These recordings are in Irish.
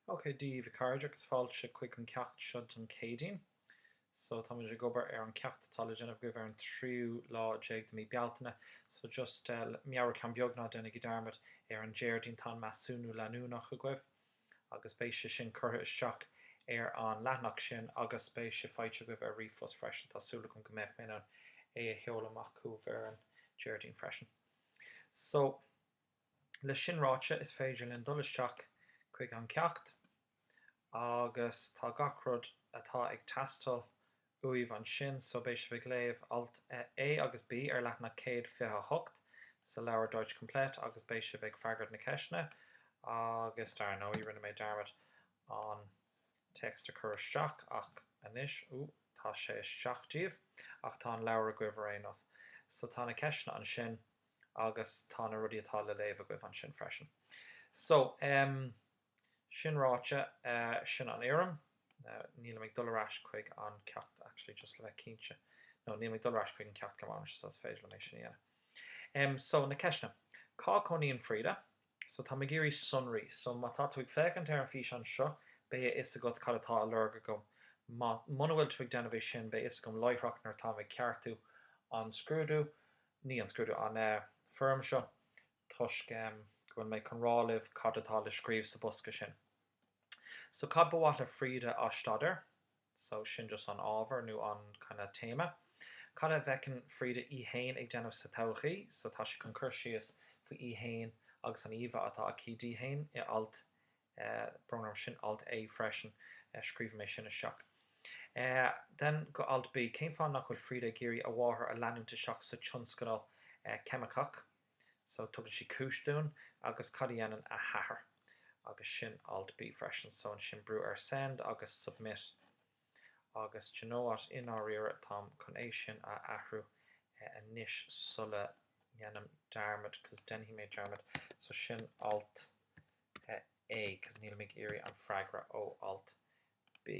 Ok, Dia daoibh a chairde agus fáilte chuig an ceacht seo don Céadaoin. So, tá muid ag obair ar an ceacht atá le déanamh agaibh ar an tríú lá déag de mí Bealtaine. So, just meabhrú ceann beag, ná déanaigí dearmad, ar an Déardaoin tá an measúnú leanúnach agaibh agus beidh sé sin curtha isteach ar an leathnach sin agus beidh sé faighte agaibh ar ríomhphost freisin. Tá súil agam go mbeidh mé in ann é a sheoladh amach chugaibh ar an Déardaoin freisin. So. Leis sin ráite, is féidir linn dul isteach chuig an ceacht agus tá gach rud atá ag teastáil uaibh ansin, so beidh sibh ag léamh alt A agus B ar leathanach 128 sa leabhar Deutsch Komplett agus beidh sibh ag freagairt na ceisteanna agus dar ndóigh rinne mé dearmad an téacs a chur isteach ach anois, ooh, tá sé isteach daoibh ach tá an leabhar agaibh ar aon nós. So tá na ceisteanna ansin. agus tá na rudaí atá le léamh agaibh ansin freisin. So, em, sin ráite, eh, sin an fhoirm. Now, nílim ag dul ar ais chuig an ceacht, actually, just le bheith cinnte. No, níl mé ag dul ar ais chuig an ceacht go mbeidh, so is féidir liom é sin a dhéanamh. Em, so, na ceisteanna. Cá chónaíonn Frieda? So tá mé ag iarraidh sonraí. So má tá tú ag féachaint ar an físeán seo, beidh a fhios agat cad atá á lorg agam. Má, muna bhfuil tú ag déanamh é sin, beidh a fhios agam láithreach nuair atá mé ag ceartú an scrúdú, ní an scrúdú, an eh, foirm seo, toisc em, go bhfuil mé chun rá libh cad atá le scríobh sa bosca sin. So cad ba mhaith le Frieda a staidéar? so sin just an ábhar nó an kind of téama. Cad a bhfeiceann Frieda í fhéin ag déanamh sa todhchaí? So tá sí chun cur síos faoi í fhéin agus an íomhá atá aici di fhéin i alt brón orm sin alt A freisin scríobh mé sin isteach. Then go alt B, cén fáth nach bhfuil Frieda ag iarraidh a mháthair a leanúint isteach sa tionscal ceimiceach? So, tugann sí cúis dúinn, agus cad a dhéanann a hathair? Agus sin Alt B freisin. So, ansin brúigh ar Send agus Submit. Agus d'you know what, i ndáiríre, táim chun é sin a athrú anois sula dhéanaim dearmad, 'cos déanfaidh mé dearmad. So, sin Alt A, 'cos níl mé ag iarraidh an freagra ó Alt B.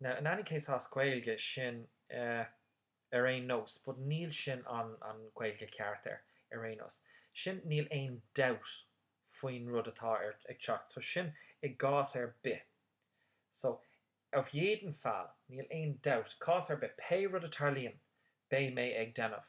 Now, in any case as Gaeilge, sin ar aon nós, but níl sin an Gaeilge ceart ar aon nós. Sin níl aon dabht faoin rud atá ag teacht. So sin i gcás ar bith. So, auf jeden Fall, níl aon dabht, cás ar bith, pé rud a tarlaíonn, beidh mé ag déanamh.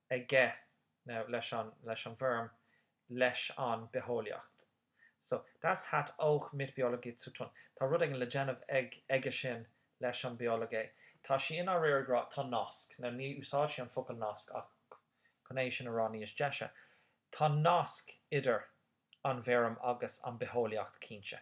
aige, nó leis an, leis an bhfeirm, leis an bitheolaíocht. So, das hat auch mit Biologie zu tun. Tá rud éigin le déanamh ag, aige sin leis an Biologie. Tá sí i ndáiríre ag rá, tá nasc, nó ní úsáideann sí an focal nasc ach chun é sin a rá níos deise, tá nasc idir an bhfeirm agus an bitheolaíocht, cinnte.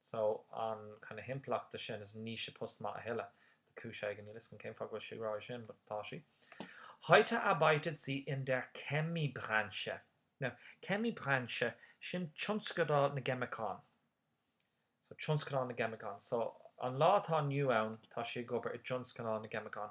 So, an kind of himpleacht de sin is ní hé post maith a thuilleadh. De chúis éigin, níl 'fhios agam cén fáth go bhfuil sí ag rá é sin, but tá sí. Heute arbeitet sie in der Chemiebranche. Now, Chemiebranche, sin tionscadal na gceimiceán. So, tionscadal na gceimiceán. So, an lá atá inniu ann, tá sí ag obair i dtionscadal na gceimiceán.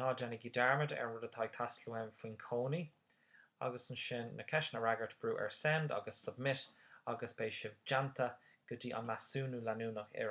Ná déanaigí dearmad ar an rud atá ag teastáil uaim faoin gcónaí. Agus ansin na ceisteanna a fhreagairt, brú ar Send agus Submit agus beidh sibh déanta go dtí an measúnú leanúnach ar